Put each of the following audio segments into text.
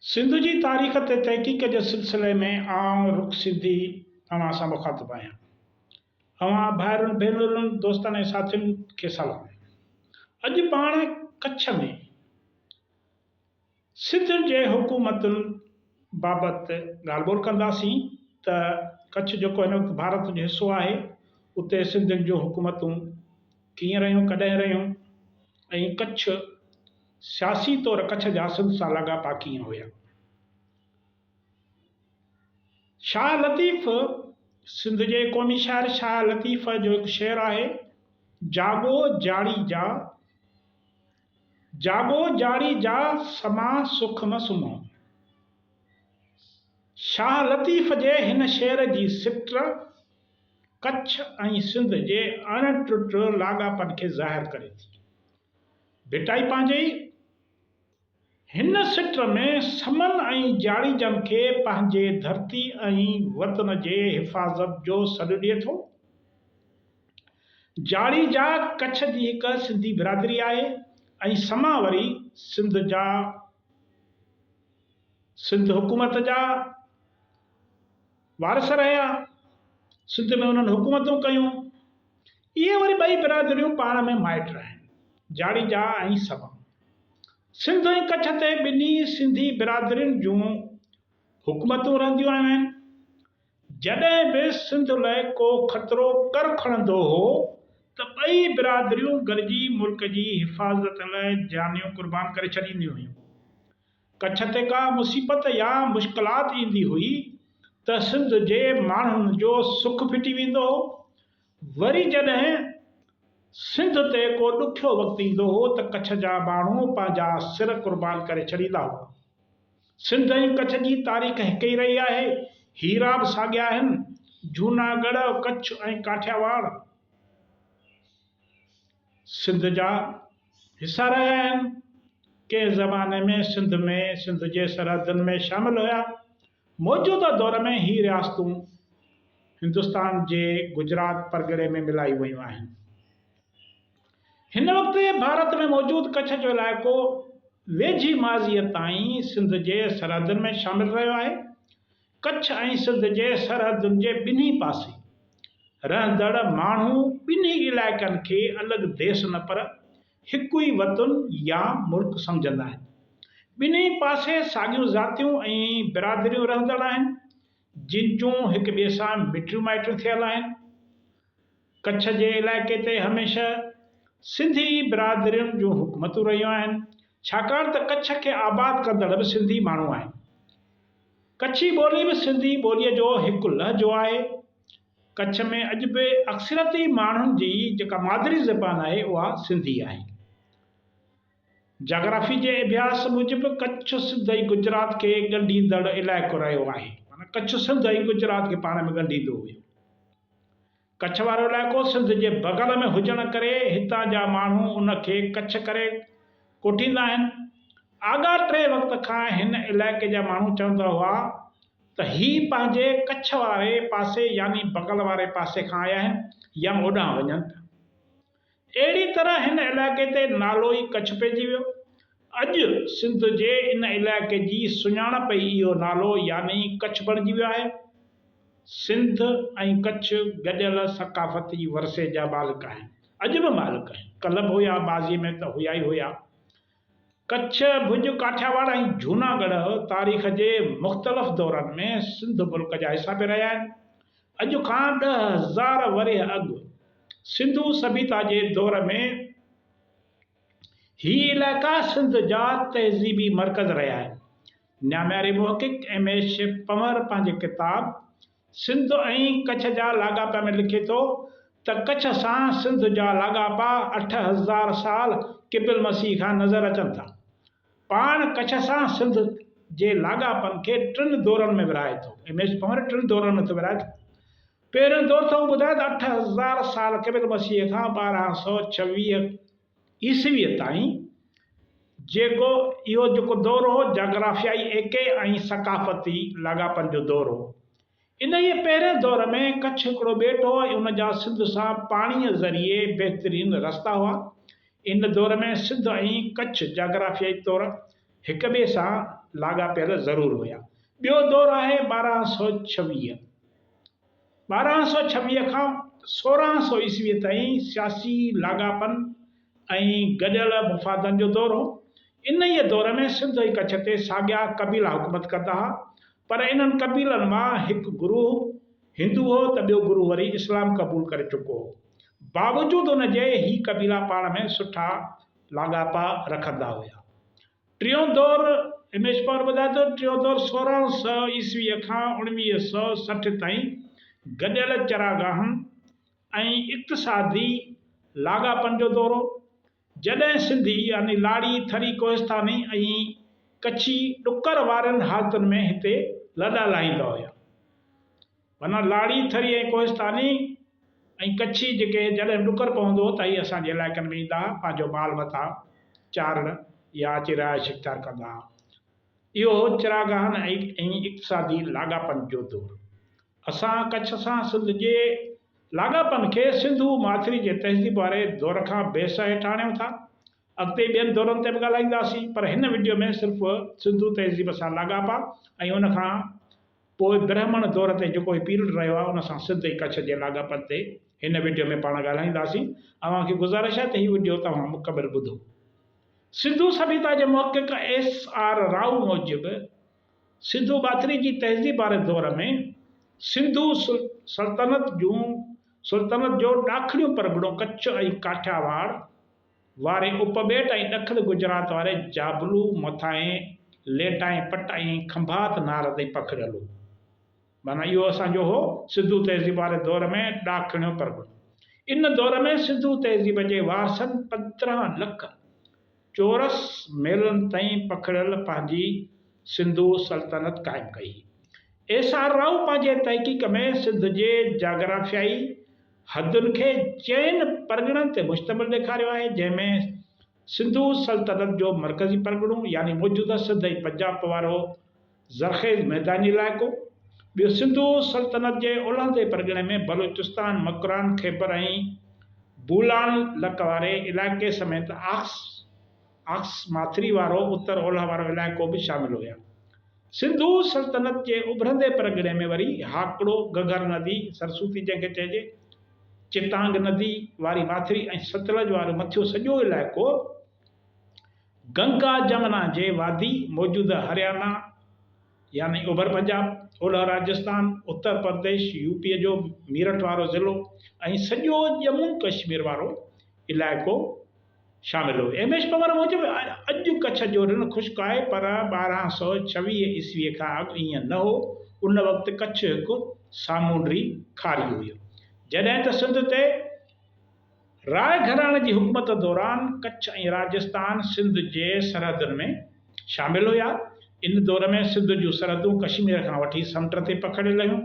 سنڌ جي تاريخ تي تحقيق جي سلسلي ۾ آئون رک سنڌي اوهان سان مخاطب آهيان. اوهان ڀائرن، ڀينرن، دوستن ۽ ساٿين کي سلام. اڄ پاڻ ڪڇ ۾. سنڌ جي حڪومتن بابت ڳالهه ٻولهه ڪنداسين ته ڪڇ جيڪو هن وقت ڀارت جو حصو آهي اتي سنڌين جون حڪومتون ڪيئن رهيون ڪڏهن رهيون ۽ ڪڇ سياسي طور ڪڇ جا سنڌ سان لاڳاپا ڪيئن هيا. شاهه لطيف سنڌ جي قومي شاعر شاهه لطيف جو هڪ شعر آهي جاڳو جاڙي جا. جاڳو جاڙي جا سما سک م سمهو. شاهه لطيف جي هن شعر جي سٽر ڪڇ ۽ سنڌ جي اڻ ٽٽ لاڳاپن کي ظاهر ڪري ٿي. ڀٽائي پنهنجي ئي هن سٽر ۾ سمن ۽ جاڙيجن کي پنهنجي ڌرتي ۽ وطن جي حفاظت جو سڏ ڏئي ٿو. جاڙيجا ڪڇ جي هڪ سنڌي برادري آهي ۽ سما وري سنڌ جا سنڌ حڪومت جا وارث رهيا سنڌ ۾ انهن حڪومتون ڪيون اهي وري ٻئي برادريون پاڻ ۾ مائٽ آهن جاڙيجا ۽ سما سنڌ ۽ ڪڇ تي ٻنهي سنڌي برادرين جون حڪومتون رهنديون آيون آهن جڏهن به سنڌ لاء ڪو خطرو ڪر کڻندو هو ته ٻئي برادريون گڏجي ملڪ جي حفاظت لاء جانيون قربان ڪري ڇڏينديون هيون. ڪڇ تي ڪا مصيبت يا مشڪلات ايندي هئي ته سنڌ جي ماڻهن جو سک ڦٽي ويندو هو وري جڏهن سنڌ تي ڪو ڏکيو وقت ايندو هو ته ڪڇ جا ماڻهو پنهنجا سر قربان ڪري ڇڏيندا هئا. سنڌ ۽ ڪڇ جي تاريخ هڪ ئي رهي آهي، هيرا به ساڳيا آهن، جهوناڳڙهه، ڪڇ ۽ ڪاٺياواڙ سنڌ جا حصا رهيا آهن، ڪنهن زماني ۾ سنڌ ۾ سنڌ جي سرحدن ۾ شامل هيا. موجوده دور ۾ هي رياستون هندستان جي گجرات پرڳڻي ۾ ملائيون ويون آهن. هن وقت ڀارت ۾ موجود ڪڇ جو علائقو ويجهي ماضيء تائين سنڌ جي سرحدن ۾ شامل رهيو آهي. ڪڇ ۽ سنڌ جي سرحدن جي ٻنهي پاسي رهندڙ ماڻهو ٻنهي علائقن کي الڳ ديس نه پر هڪ ئي وطن يا ملڪ سمجهندا آهن. ٻنهي پاسي ساڳيون ذاتيون ۽ برادريون رهندڙ آهن، جن جون هڪ ٻئي سان مٽيون مائٽيون ٿيل آهن. ڪڇ جي علائقي تي هميشه سنڌي برادرين جون حڪومتون رهيون آهن، ڇاڪاڻ ته ڪڇ کي آباد ڪندڙ به سنڌي ماڻهو آهن. ڪڇي ٻولي به سنڌي ٻوليء جو هڪ لهجو آهي. ڪڇ ۾ اڄ به اڪثريتي ماڻهن جي جيڪا مادري زبان آهي اها سنڌي آهي. جاگرافي جي اڀياس موجب ڪڇ سنڌ ۽ گجرات کي ڳنڍيندڙ علائقو رهيو آهي معنيٰ ڪڇ سنڌ ۽ گجرات کي پاڻ ۾ ڳنڍيندو هيو. ڪڇ وارو علائقو سنڌ جي بغل ۾ هجڻ ڪري هتان جا ماڻهو ان کي ڪڇ ڪري ڪوٺيندا آهن. آڳاٽي وقت کان هن علائقي جا ماڻهو چوندا هئا ته هي پنهنجي ڪڇ واري پاسي يعني بغل واري پاسي کان آيا آهن يا اوڏانهن وڃن پيا. اهڙي طرح هن علائقي تي نالو ئي ڪڇ پئجي ويو. اڄ سنڌ جي ان علائقي جي سڃاڻپ ئي اهو نالو يعني ڪڇ بڻجي ويو آهي. سنڌ ۽ ڪڇ گڏيل ثقافتي ورثي جا مالڪ آهن. اڄ به مالڪ آهن. ڪلهه به هيا ماضي ۾ ته هيا ئي هيا. ڪڇ، ڀڄ، ڪاٺياواڙ ۽ جهوناڳڙهه تاريخ جي مختلف دورن ۾ سنڌ ملڪ جا حصا پئي رهيا آهن. اڄ کان ڏهه هزار ورهيه اڳ سنڌو سڀيتا جي دور ۾ هي علائقا سنڌ جا تهذيبي مرڪز رهيا آهن. نامياري محقق ايم ايڇ پنور پنهنجي ڪتاب سنڌ ۽ ڪڇ جا لاڳاپا ۾ لکي ٿو ته ڪڇ سان سنڌ جا لاڳاپا اٺ هزار سال قبل مسيح کان نظر اچن ٿا. پاڻ ڪڇ سان سنڌ جي لاڳاپن کي ٽن دورن ۾ ورهائي ٿو. ٽن دورن ۾ ٿو ورهائي ٿو. پهريون دور ٿو ٻڌائي ته اٺ هزار سال قبل مسيح کان ٻارهن سؤ ڇويهه عيسويء تائين جيڪو اهو جيڪو دور هو جاگرافيائي ايڪي ۽ ثقافتي لاڳاپن جو دور هو. انهيء پهرئين دور ۾ ڪڇ هڪڙو ٻيٽ هو ۽ ان جا سنڌ سان پاڻيء ذريعي بهترين رستا هئا. ان دور ۾ سنڌ ۽ ڪڇ جاگرافيائي طور هڪ ٻئي سان لاڳاپيل ضرور هيا. ٻيو دور آهي ٻارهن سؤ ڇويهه ٻارهن سؤ ڇويهه کان سورهن سؤ عيسويء تائين سياسي لاڳاپن ۽ گڏيل مفادن جو دور هو. انهيء دور ۾ سنڌ ۽ ڪڇ تي ساڳيا قبيلا حڪومت ڪندا ها، پر انهن قبيلن مان هڪ گروهه هندو هو ته ٻيو گروهه وري اسلام قبول ڪري چڪو هو. باوجود ان جي هي قبيلا پاڻ ۾ سٺا لاڳاپا رکندا هيا. ٽيون دور، هيمش پاور ٻڌائي ٿو، ٽيون دور سورهن سؤ عيسويء کان اوڻويهه سؤ سٺ تائين گڏيل چراگاهن ۽ اقتصادي لاڳاپن جو دور هو، جڏهن سنڌي يعني لاڙي، ٿري، ڪوهستاني ۽ ڪڇي ڏڪر وارين حالتن ۾ هتي لڏا لاهيندا هيا. معنيٰ لاڙي، ٿري ۽ ڪوهستاني ۽ ڪڇي جيڪي جڏهن ڏڪر پوندو هو ته اهي اسان جي علائقن ۾ ايندا ها پنهنجو مال متاع چارڻ يا اچي رهائش اختيار ڪندا ها. اهو هو چراگاهن ۽ اقتصادي لاڳاپن جو دور. اسان ڪڇ سان سنڌ جي لاڳاپن کي سنڌو ماٿري جي تهذيب واري دور کان بي سهي ٿا آڻيون ٿا. اڳتي ٻين دورن تي به ڳالهائينداسين پر هن وڊيو ۾ صرف سنڌو تهذيب سان لاڳاپا ۽ ان کان پوء برهمڻ دور تي جيڪو هي پيرڊ رهيو آهي ان سان سنڌ ۽ ڪڇ جي لاڳاپن تي هن وڊيو ۾ پاڻ ڳالهائينداسين. اوهان کي گذارش آهي ته هي وڊيو توهان مڪمل ٻڌو. سنڌو سڀيتا جي محقق ايس آر راهو موجب سنڌو ٻاٿري جي تهذيب واري دور ۾ سنڌو سلطنت جون سلطنت جو ڏاکڻيون پرڳڻو ڪڇ ۽ ڪاٺياواڙ، واري اپٻيٽ ۽ ڏکڻ گجرات واري جابلو، مٿانهين ليٽائين پٽ ۽ کنڀات نار تائين پکڙيل هو. معنيٰ اهو اسان جو هو. سنڌو تهذيب واري دور ۾ ڏاکڻيو پرڳڻو. ان دور ۾ سنڌو تهذيب جي وارثن پندرهن لک چورس ميلن تائين پکڙيل پنهنجي سنڌو سلطنت قائم ڪئي هئي. ايس آر راء پنهنجي تحقيق ۾ سنڌ جي جاگرافيائي، حدن کي چئن پرڳڻن تي مشتمل ڏيکاريو آهي، جنهن ۾ سنڌو سلطنت جو مرڪزي پرڳڻو يعني موجوده سنڌ ۽ پنجاب وارو زرخيز ميداني علائقو، ٻيو سنڌو سلطنت جي اولهندي پرڳڻي ۾ بلوچستان، مڪران، خيبر ۽ بولان لڪ واري علائقي سميت آڪس آڪس ماٿري وارو اتر اولهه وارو علائقو به شامل هيا. سنڌو سلطنت جي اڀرندي پرڳڻي ۾ وري هاڪڙو، گهگهر ندي، سرسوتي جنهن کي چئجي، چٽانگ ندي واري ماٿري ۽ ستلج وارو مٿيون سڄو علائقو گنگا جمنا جي وادي، موجوده هريانا يعني اوڀر پنجاب، اولهه راجستان، اتر پرديش، يو پي جو ميرٺ وارو ضلعو ۽ سڄو ڄمون ڪشمير وارو علائقو شامل هو. ايم ايڇ پنور موجب اڄ ڪڇ جو رڻ خشڪ آهي پر ٻارهن سؤ ڇويهه عيسويء کان اڳ ائين نه هو، ان وقت ڪڇ هڪ سامونڊي کاري هيو. جڏهن ته سنڌ تي راء گهراڻي جي حڪومت دوران ڪڇ ۽ راجستان سنڌ جي سرحدن ۾ شامل هيا. ان دور ۾ سنڌ جون سرحدون ڪشمير کان وٺي سمنڊ تي پکڙيل هيون.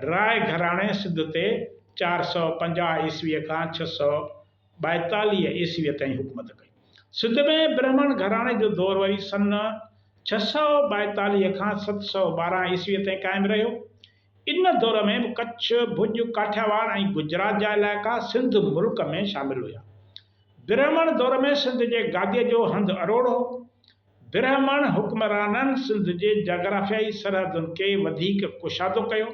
راء گهراڻي سنڌ تي چار سؤ پنجاهه عيسويء کان ڇهه سؤ ٻائيتاليهه عيسويء تائين حڪومت ڪئي. سنڌ ۾ برهمڻ گهراڻي جو دور وري سن ڇهه سؤ ٻائيتاليهه کان ست سؤ ٻارهن عيسويء تائين قائم رهيو. ان دور ۾ به ڪڇ، ڀڄ، ڪاٺياواڙ ۽ گجرات جا علائقا سنڌ ملڪ ۾ شامل هيا. برهمڻ دور ۾ سنڌ جي گاديء جو هنڌ اروڙ هو. برهمڻ حڪمرانن سنڌ جي جاگرافيائي سرحدن کي وڌيڪ ڪشادو ڪيو.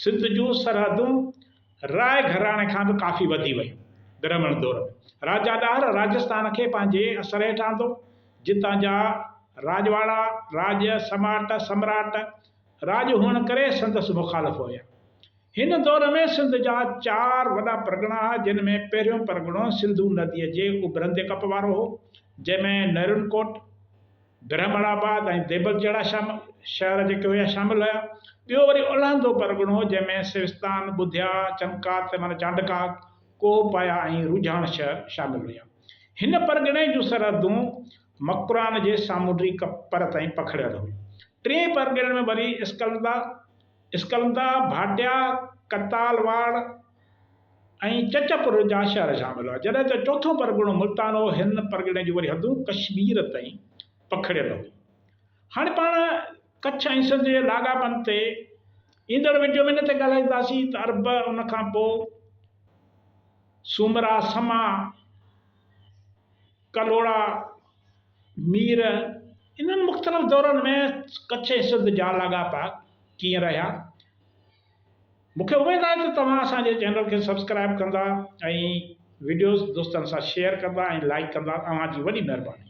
سنڌ جون سرحدون راء گهراڻي کان به ڪافي وڌي ويون. برهمڻ دور ۾، راجا ڏاهر راجسٿان کي پنهنجي اثر هيٺ آندو، جتان جا راڄواڙا، راڄ، سماٽ، سمراٽ، راڄ هئڻ ڪري سندس مخالف هيا. هن دور ۾ سنڌ جا چار وڏا پرڳڻا هئا، جن ۾ پهريون پرڳڻو سنڌو نديء جي اڀرندي ڪپ وارو هو، جنهن ۾ نرن ڪوٽ، برهمڻ آباد ۽ ديبل جهڙا شهر جيڪي هيا شامل هيا. ٻيو وري اولهندو پرڳڻو جنهن ۾ سوستان، ٻڌيا، چمڪات معنيٰ چانڊڪاڪ، ڪوهه پايا ۽ روجهاڻ شهر شامل هيا. هن پرڳڻي جون سرحدون مڪران جي سامونڊي پر تائين پکڙيل هيون. ٽئين پرڳڻي ۾ وري اسڪلندا، اسڪلندا، ڀاٽيا، ڪتال واڙ، ۽ چچ پور جا شهر شامل هئا، جڏهن ته چوٿون پرڳڻو ملتان هو، هن پرڳڻي جون وري حدون ڪشمير تائين پکڙيل هيون. هاڻي پاڻ ڪڇ ۽ سنڌ جي لاڳاپن تي ايندڙ وڊيو ۾ ان تي ڳالهائينداسين ته عرب ان کان پوء سومرا، سما، ڪلهوڙا، مير انهن مختلف دورن ۾ ڪڇ ۽ سنڌ جا لاڳاپا ڪيئن رهيا، مون کي اميد آهي ته توهان اسان جي چينل کي سبسڪرائيب ڪندا ۽ وڊيوز دوستن سان شيئر ڪندا ۽ لائيڪ ڪندا اوهان جي وڏي مهرباني.